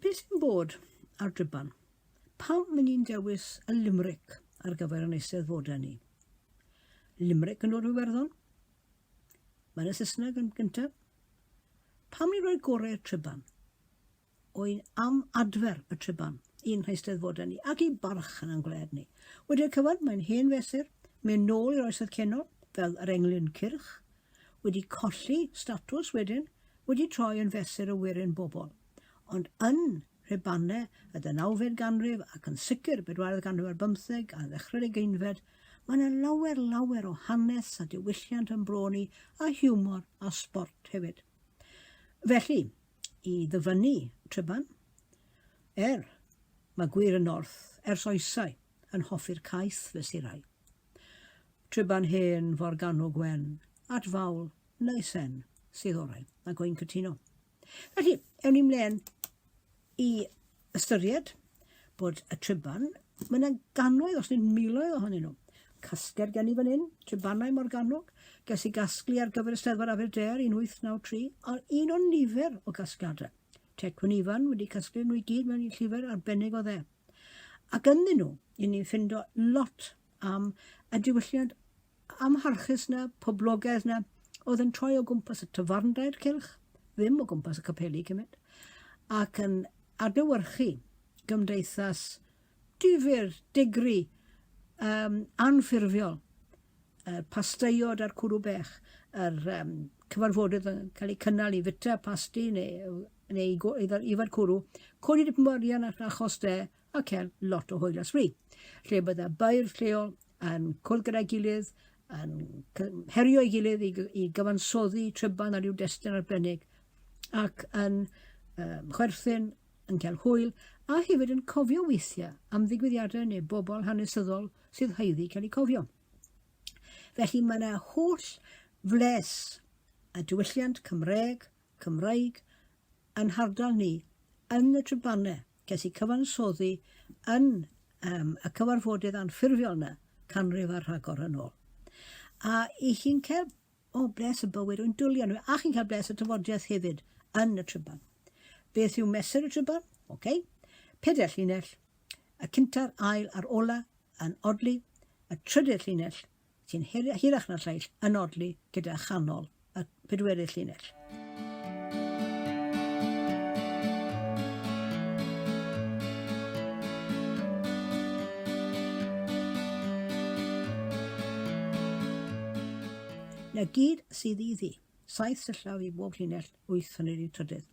Beth sy'n bod ar dryban? Pam mynd i'n dewis y limeric ar gyfer yn eistedd fod ni? Limeric yn dod o Iwerddon? Mae'n y Saesneg yn gyntaf? Pam i roi gorau'r triban? Oen am adfer y triban i'n nheisteddfodau ni ac i barch yn ein gwled ni. Wedi'r cyfan, mae'n hen fesur, mynd nôl i'r oesoedd ceno, fel yr englyn cyrch, wedi colli statws wedyn, wedi troi yn fesur y werin bobl. Ond yn Rhubanne y ddeunawfed ganrif ac yn sicr bedwaredd ganrif ar bymtheg a ddechrau'r ugeinfed, mae yna lawer lawer o hanes a diwylliant yn bro ni a hiwmor a sbort hefyd. Felly, i ddyfynnu Tryban, er, mae gwir yn north ers oesau yn hoffi'r caeth fesurau. Tryban hen forgannwg wen, at fawl neu sen sydd orau, ac oi'n cytuno. Felly, ewn ni mlaen i ystyried bod y triban, mae yna gannoedd, os nid miloedd ohonyn nhw. Casgler gen i fan hyn, tribanau Morgannwg, ges i gasglu ar gyfer y Steddfod Aberdare 1893, ond un o'n nifer o gasgliadau. Tecwn Ifan wedi casglu nhw i gyd mewn llyfr arbennig o dde. Ac ynddyn nhw, i ni'n ffindo lot am y diwylliant amharchus 'na, poblogaidd 'na, oedd yn troi o gwmpas y tafarndair cylch, ddim o gwmpas y capeli cymryd, ac yn adlewyrchu gymdeithas difyr, digri, um, anffurfiol, y pasteiod a'r cwrw bech, yr um, cyfarfodydd yn cael eu cynnal i fita pasti neu, neu i, i, i fod cwrw, codi dipyn o arian achos de, a cael lot o hwyl a sbri, lle bydda bair lleol yn cwrdd gyda'i gilydd, yn herio ei gilydd i, i gyfansoddi tryban ar ryw destyn arbennig, ac yn um, chwerthin, yn cael hwyl, a hefyd yn cofio weithiau am ddigwyddiadau neu bobl hanesyddol sydd haeddu cael eu cofio. Felly mae yna holl fles a diwylliant Cymreg, Cymraeg, yn hardal ni, yn y trybannau. Ges i cyfansoddi yn um, y cyfarfodydd anffurfiol yna, canrif ar rhagor yn ôl. A i chi'n cael o oh, bles y bywyd o'n dwlion nhw, a chi'n cael bles y tyfodiaeth hefyd yn y tryban. Beth yw mesur y tryban? Oce. Okay. Peder llinell, y cynta'r ail a'r ola yn odli, y trydydd llinell sy'n hirach na'r lleill yn odli gyda chanol y pedwerydd llinell. Na gyd sydd iddi, saith syllaf i bob llinell, wyth yn yr un trydydd.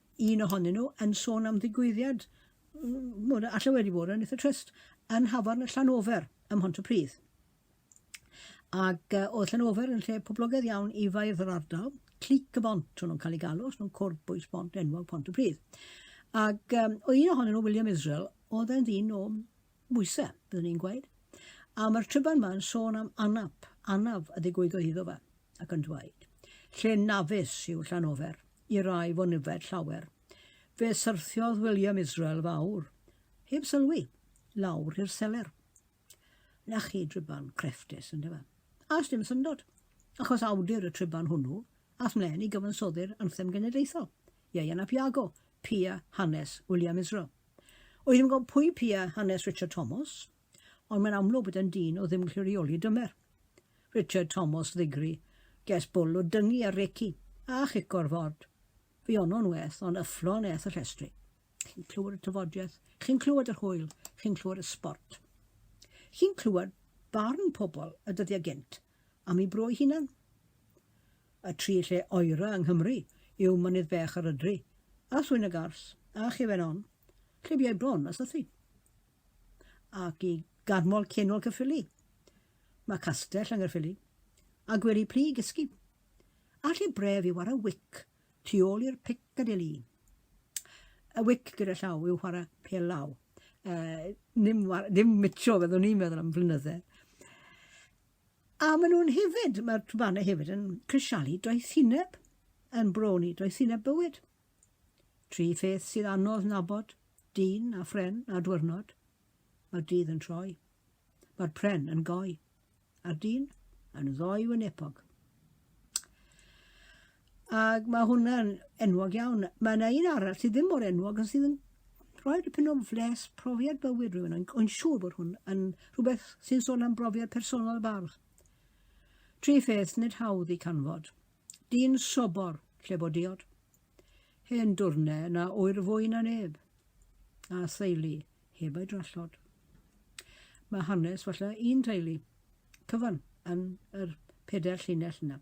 un ohonyn nhw yn sôn am ddigwyddiad, mm, allai wedi bod yn eitha trist, yn Hafan y Llanofer ym Mhontypridd. Ac uh, oedd Llanofer yn lle poblogaidd iawn i fairdd yr ardal, clic y bont, o'n nhw'n cael ei galw, os nhw'n cwrdd bwys bont enwog Pontypridd. Ac um, o un ohonyn nhw, William Israel, oedd e'n ddyn o bwysau, byddwn ni'n gweud. A mae'r tryban yma yn sôn am anaf, anaf y ddigwyddodd iddo fe, ac yn dweud, lle nafus yw Llanofer, i rai fo nyfed llawer. Fe syrthiodd William Israel fawr, heb sylwi, lawr i'r seler. Na chi driban crefftus, ynddo fe? A dim syndod, achos awdur y triban hwnnw, ath mlaen i gyfansoddi'r anthem genedlaethol, Ieuan ap Iago, pia hanes William Israel. Oedd yn gwybod pwy pia hanes Richard Thomas, ond mae'n amlwg bod e'n dyn o ddim gallu reoli dymer. Richard Thomas ddigri, ges bwl o dyngu ar recu, a chico'r ford. Fi ono'n weth, ond yfflon eth y llestri. Chi'n clywed y tyfodiaeth, chi'n clywed yr hwyl, chi'n clywed y sport. Chi'n clywed barn pobl y dyddiau gynt am ei bro ei hunan. Y tri lle oera yng Nghymru yw Mynydd Bech yr Ydri, a Thwyn y Gars, a Chefen On, lle biau bron a sythu. ac i Garmol Cenol Caerffili. Mae castell yng Nghaerffili, a gwely plu i gysgu, a lle bref i wara wic tu ôl i'r Piccadilly. Y wic gyda llaw yw whara pel law. Uh, dim, war, dim mitio, fyddwn i'n meddwl am flynydde. A maen nhw'n hefyd, mae'r tbanau hefyd yn crisialu doethineb, yn broni doethineb bywyd. Tri pheth sydd anodd nabod, dyn a phren a dwyrnod. Mae'r dydd yn troi. Mae'r pren yn goi. A'r dyn yn ddoi wynepog. Ac mae hwnna'n enwog iawn. Mae yna un arall sydd ddim mor enwog ond sydd yn rhoi dipyn o fles profiad bywyd rhywun. Ond o'n siŵr bod hwn yn rhywbeth sy'n sôn am brofiad personol y bardd. Tri pheth nid hawdd i canfod. Dyn sobor, lle bod diod. Hen dwrne na oer fwy na neb. A theulu, heb ei drallod. Mae hanes falle un teulu. Cyfan, yn yr peder llinell yna.